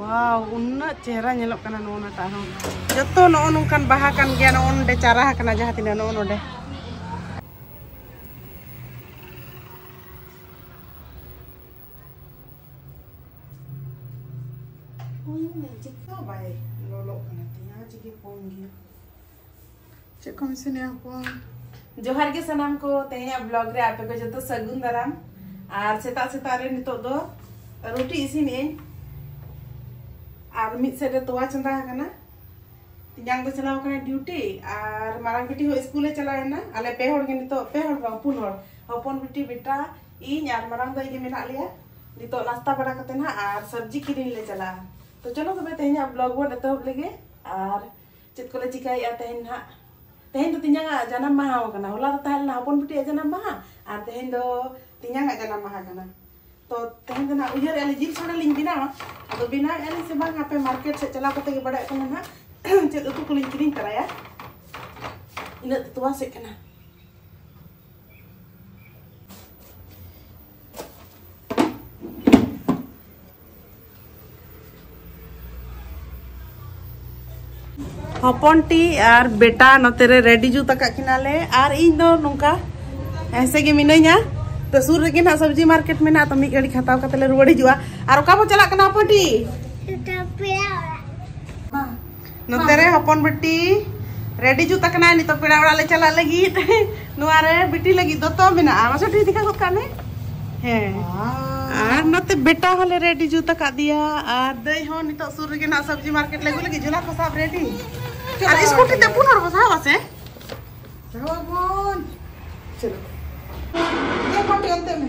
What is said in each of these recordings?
ᱣᱟᱣ ᱩᱱᱟᱹ ᱪᱮᱦᱨᱟ ᱧᱮᱞᱚᱜ ᱠᱟᱱᱟ ᱱᱚᱜᱼᱚ ᱱᱟᱴᱟᱜ ᱦᱚᱸ ᱡᱚᱛᱚ ᱱᱚᱜᱼᱚ ᱱᱚᱝᱠᱟᱱ ᱵᱟᱦᱟ ᱠᱟᱱ ᱜᱮᱭᱟ ᱱᱚᱜᱼᱚ ᱱᱚᱰᱮ ᱪᱟᱨᱟ ᱟᱠᱟᱱᱟ ᱡᱟᱦᱟᱸ ᱛᱤᱱᱟᱹᱜ ᱱᱚᱜᱼᱚ ᱱᱚᱰᱮ ᱪᱮᱫ ᱠᱟ ᱵᱟᱭ ᱞᱚᱞᱚᱜ ᱠᱟᱱᱟ ᱛᱤᱧ ᱟᱨ ᱪᱮᱫ ᱜᱮ ᱠᱚᱢ ᱜᱮᱭᱟ ᱪᱮᱫ ᱠᱚ ᱢᱮᱥᱤᱱ ᱮ ᱦᱚᱯᱚᱱ ᱡᱚᱦᱟᱨ ᱜᱮ ᱥᱟᱱᱟᱢ ᱠᱚ ᱛᱮᱦᱮᱧᱟᱜ ᱵᱞᱚᱜ ᱨᱮ ᱟᱯᱮ ᱠᱚ ᱡᱚᱛᱚ ᱥᱟᱹᱜᱩᱱ ᱫᱟᱨᱟᱢ ᱟᱨ ᱥᱮᱛᱟᱜ ᱥᱮᱛᱟᱜ ᱨᱮ ᱱᱤᱛᱚᱜ ᱫᱚ ᱨᱩᱴᱤ ᱤᱥᱤᱱ ᱟᱹᱧ ᱟᱨ ᱢᱤᱫ ᱥᱮᱫ ᱨᱮ ᱛᱚᱣᱟ ᱪᱚᱸᱫᱟ ᱟᱠᱟᱱᱟ ᱛᱤᱧᱟᱝ ᱫᱚ ᱪᱟᱞᱟᱣ ᱟᱠᱟᱱᱟ ᱰᱤᱭᱩᱴᱤ ᱟᱨ ᱢᱟᱨᱟᱝ ᱵᱤᱴᱤ ᱦᱚᱸ ᱥᱠᱩᱞ ᱮ ᱪᱟᱞᱟᱣ ᱮᱱᱟ ᱟᱞᱮ ᱯᱮ ᱦᱚᱲ ᱜᱮ ᱱᱤᱛᱚᱜ ᱯᱮ ᱦᱚᱲ ᱵᱟᱝ ᱯᱩᱱ ᱦᱚᱲ ᱦᱚᱯᱚᱱ ᱵᱤᱴᱤ ᱵᱮᱴᱟ ᱤᱧ ᱟᱨ ᱢᱟᱨᱟᱝ ᱫᱚ ᱤᱧ ᱢᱮᱱᱟᱜ ᱞᱮᱭᱟ ᱱᱤᱛᱚᱜ ᱱᱟᱥᱛᱟ ᱵᱟᱲᱟ ᱠᱟᱛᱮ ᱱᱟᱜ ᱟᱨ ᱥᱚᱵᱽᱡᱤ ᱠᱤᱨᱤᱧ ᱞᱮ ᱪᱟᱞᱟᱜᱼᱟ ᱛᱚ ᱪᱚᱞᱚ ᱛᱚᱵᱮ ᱛᱮᱦᱮᱧᱟᱜ ᱵᱞᱚᱜ ᱵᱚᱱ ᱮᱛᱚᱦᱚᱵ ᱞᱮᱜᱮ ᱟᱨ ᱪᱮᱫ ᱠᱚᱞᱮ ᱪᱤᱠᱟᱹᱭᱮᱫᱼᱟ ᱛᱮᱦᱮᱧ ᱱᱟᱦᱟᱜ ᱛᱮᱦᱮᱧ ᱫᱚ ᱛᱤᱧᱟᱝᱟᱜ ᱡᱟᱱᱟᱢ ᱢᱟᱦᱟ ᱦᱚᱸ ᱠᱟᱱᱟ ᱦᱚᱞᱟ ᱫᱚ ᱛᱟᱦᱮᱸ ᱞᱮᱱᱟ ᱦᱚᱯᱚᱱ ᱵᱤᱴᱤᱭᱟᱜ ᱡᱟᱱᱟᱢ ᱢᱟᱦᱟ ᱟᱨ ᱛᱮᱦᱮᱧ ᱫᱚ ᱛᱤᱧᱟᱝᱟᱜ ᱡᱟᱱᱟᱢ ᱢᱟᱦᱟ ᱠᱟᱱᱟ ᱛᱚ ᱛᱮᱦᱮᱧ ᱫᱚ ᱱᱟᱦᱟᱜ ᱩᱭᱦᱟᱹᱨᱮᱫᱼᱟ ᱞᱤᱧ ᱡᱤᱞ ᱥᱟᱲᱮ ᱞᱤᱧ ᱵᱮᱱᱟᱣᱟ ᱟᱫᱚ ᱵᱮᱱᱟᱣᱮᱫᱼᱟ ᱞᱤᱧ ᱥᱮ ᱵᱟᱝ ᱦᱟᱯᱮ ᱢᱟᱨᱠᱮᱴ ᱥᱮᱫ ᱪᱟᱞᱟᱣ ᱠᱟᱛᱮ ᱜᱮ ᱵᱟᱲᱟᱭᱚᱜ ᱠᱟᱱᱟ ᱱᱟᱦᱟᱜ ᱪᱮᱫ ᱩᱛᱩ ᱠᱚᱞᱤᱧ ᱠᱤᱨᱤᱧ ᱛᱟᱨᱟᱭᱟ ᱤᱱᱟᱹᱜ ᱛᱚᱣᱟ ᱥᱮᱫ ᱠᱟᱱᱟ ᱦᱚᱯᱚᱱ ᱴᱤ ᱟᱨ ᱵᱮᱴᱟ ᱱᱚᱛᱮ ᱨᱮ ᱨᱮᱰᱤ ᱡᱩᱛ ᱟᱠᱟᱫ ᱠᱤᱱᱟᱞᱮ ᱟᱨ ᱤᱧ ᱫᱚ ᱱᱚᱝᱠᱟ ᱮᱥᱮ ᱜᱮ ᱢᱤᱱᱟᱹᱧᱟ ᱛᱚ ᱥᱩᱨ ᱨᱮᱜᱮ ᱱᱟᱜ ᱥᱚᱵᱽᱡᱤ ᱢᱟᱨᱠᱮᱴ ᱢᱮᱱᱟᱜᱼᱟ ᱛᱚ ᱢᱤᱫ ᱜᱷᱟᱹᱲᱤᱡ ᱦᱟᱛᱟᱣ ᱠᱟᱛᱮ ᱞᱮ ᱨᱩᱣᱟᱹᱲ ᱦᱤᱡᱩᱜᱼᱟ ᱟᱨ ᱚᱠᱟ ᱵᱚ ᱪᱟᱞᱟᱜ ᱠᱟᱱᱟ ᱦᱚᱯᱚᱱ ᱴᱤ ᱱᱚᱛᱮ ᱨᱮ ᱦᱚᱯᱚᱱ ᱵᱤᱴᱤ ᱨᱮᱰᱤ ᱡᱩᱛ ᱟᱠᱟᱱᱟ ᱱᱤᱛᱚᱜ ᱯᱮᱲᱟ ᱚᱲᱟᱜ ᱞᱮ ᱪᱟᱞᱟᱜ ᱞᱟᱹᱜᱤᱫ ᱱᱚᱣᱟ ᱨᱮ ᱵᱤᱴᱤ ᱞᱟᱹᱜᱤᱫ ᱫᱚᱛᱚ ᱢᱮᱱᱟᱜᱼᱟ ᱢᱟᱥᱮ ᱴᱷᱤᱠ ᱫᱤᱠᱷᱟ ᱜᱚᱫ ᱠᱟᱜ ᱢᱮ ᱦᱮᱸ ᱟᱨ ᱱᱚᱛᱮ ᱵᱮᱴᱟ ᱦᱚᱸᱞᱮ ᱨᱮᱰᱤ ᱡᱩᱛ ᱟᱠᱟᱫ ᱫᱮᱭᱟ ᱟᱨ ᱫᱟᱹᱭ ᱦᱚᱸ ᱱᱤᱛᱚᱜ ᱥᱩᱨ ᱨᱮᱜᱮ ᱱᱟᱜ ᱥᱚᱵᱽᱡᱤ ᱢᱟᱨᱠᱮᱴ ᱞᱟᱹᱜᱩ ᱞᱟᱹᱜᱤᱫ ᱡᱷᱚᱞᱟ ᱠᱚ ᱥᱟᱵ ᱨᱮᱰᱤ ᱟᱨ ᱥᱠᱩᱴᱤ ᱛᱮ ᱯᱩᱱ ᱦᱚᱲ ᱵᱚ ᱥᱟᱵ ᱟᱥᱮ ᱥᱟᱵᱚᱱ ᱪᱚᱞᱚ ᱮ ᱯᱟᱴᱤ ᱚᱱᱛᱮ ᱢᱮ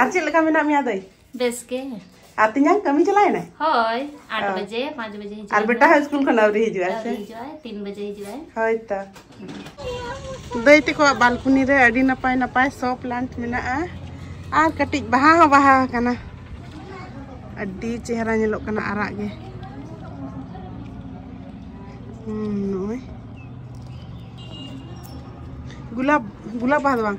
ᱟᱨ ᱪᱮᱫ ᱞᱮᱠᱟ ᱢᱮᱱᱟᱜ ᱢᱮᱭᱟ ᱫᱟᱹᱭ ᱵᱮᱥ ᱜᱮ ᱟᱨ ᱛᱤᱧᱟᱝ ᱠᱟᱹᱢᱤ ᱪᱟᱞᱟᱣ ᱮᱱᱟᱭ ᱦᱳᱭ 8 ᱵᱟᱡᱮ 5 ᱵᱟᱡᱮ ᱦᱤᱡᱩᱜᱼᱟ ᱟᱨ ᱵᱮᱴᱟ ᱦᱚᱸ ᱥᱠᱩᱞ ᱠᱷᱚᱱ ᱟᱹᱣᱨᱤ ᱦᱤᱡᱩᱜᱼᱟ ᱥᱮ ᱦᱤᱡᱩᱜᱼᱟ 3 ᱵᱟᱡᱮ ᱦᱤᱡᱩᱜᱼᱟ ᱦᱳᱭ ᱛᱚ ᱫᱟᱹᱭ ᱛᱮᱠᱚᱣᱟᱜ ᱵᱟᱞᱠᱩᱱᱤ ᱨᱮ ᱟᱹᱰᱤ ᱱᱟᱯᱟᱭ ᱱᱟᱯᱟᱭ ᱥᱚ ᱯᱞᱟᱱᱴ ᱢᱮᱱᱟᱜᱼᱟ ᱟᱨ ᱠᱟᱹᱴᱤᱡ ᱵᱟᱦᱟ ᱦᱚᱸ ᱵᱟᱦᱟ ᱟᱠᱟᱱᱟ ᱟᱹᱰᱤ ᱪᱮᱦᱨᱟ ᱧᱮᱞᱚᱜ ᱠᱟᱱᱟ ᱟᱨᱟᱜ ᱜᱮ ᱱᱚᱜᱼᱚᱭ ᱜᱩᱞᱟᱵ ᱜᱩᱞᱟᱵ ᱵᱟᱦᱟ ᱫᱚ ᱵᱟᱝ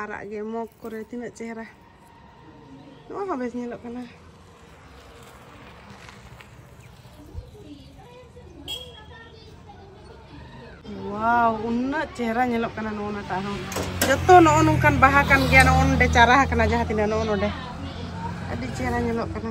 ᱟᱨᱟᱜ ᱜᱮ ᱢᱚᱜᱽ ᱠᱚᱨᱮ ᱛᱤᱱᱟᱹᱜ ᱪᱮᱦᱨᱟ ᱱᱚᱣᱟ ᱦᱚᱸ ᱵᱮᱥ ᱧᱮᱞᱚᱜ ᱠᱟᱱᱟ ᱣᱟᱣ ᱩᱱᱟᱹᱜ ᱪᱮᱦᱨᱟ ᱧᱮᱞᱚᱜ ᱠᱟᱱᱟ ᱱᱚᱜᱼᱚ ᱱᱟᱴᱟᱜ ᱦᱚᱸ ᱡᱚᱛᱚ ᱱᱚᱜᱼᱚ ᱱᱚᱝᱠᱟᱱ ᱵᱟᱦᱟ ᱠᱟᱱ ᱜᱮᱭᱟ ᱱᱚᱜᱼᱚ ᱱᱚᱰᱮ ᱪᱟᱨᱟ ᱟᱠᱟᱱᱟ ᱡᱟᱦᱟᱸ ᱛᱤᱱᱟᱹᱜ ᱱᱚᱜᱼᱚ ᱱᱚᱰᱮ ᱟᱹᱰᱤ ᱪᱮᱦᱨᱟ ᱧᱮᱞᱚᱜ ᱠᱟᱱᱟ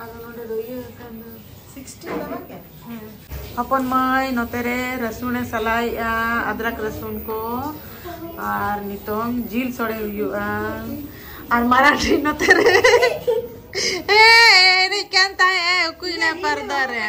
ᱟᱫᱚ ᱱᱚᱰᱮ ᱫᱚ ᱤᱭᱟᱹ ᱟᱠᱟᱱ ᱫᱚ 16 ᱫᱚ ᱵᱟᱝ ᱦᱮᱸ ᱦᱚᱯᱚᱱ ᱢᱟᱹᱭ ᱱᱚᱛᱮ ᱨᱮ ᱨᱟᱹᱥᱩᱱ ᱮ ᱥᱟᱞᱟᱭᱮᱜᱼᱟ ᱟᱫᱨᱟᱠ ᱨᱟᱹᱥᱩᱱ ᱠᱚ ᱟᱨ ᱱᱤᱛᱚᱝ ᱡᱤᱞ ᱥᱚᱲᱮ ᱦᱩᱭᱩᱜᱼᱟ ᱟᱨ ᱢᱟᱨᱟᱴᱷᱤ ᱱᱚᱛᱮ ᱨᱮ ᱮ ᱮᱱᱮᱡ ᱠᱟᱱ ᱛᱟᱦᱮᱸᱜ ᱩᱠᱩᱭᱱᱟ ᱯᱟᱨᱫᱟ ᱨᱮ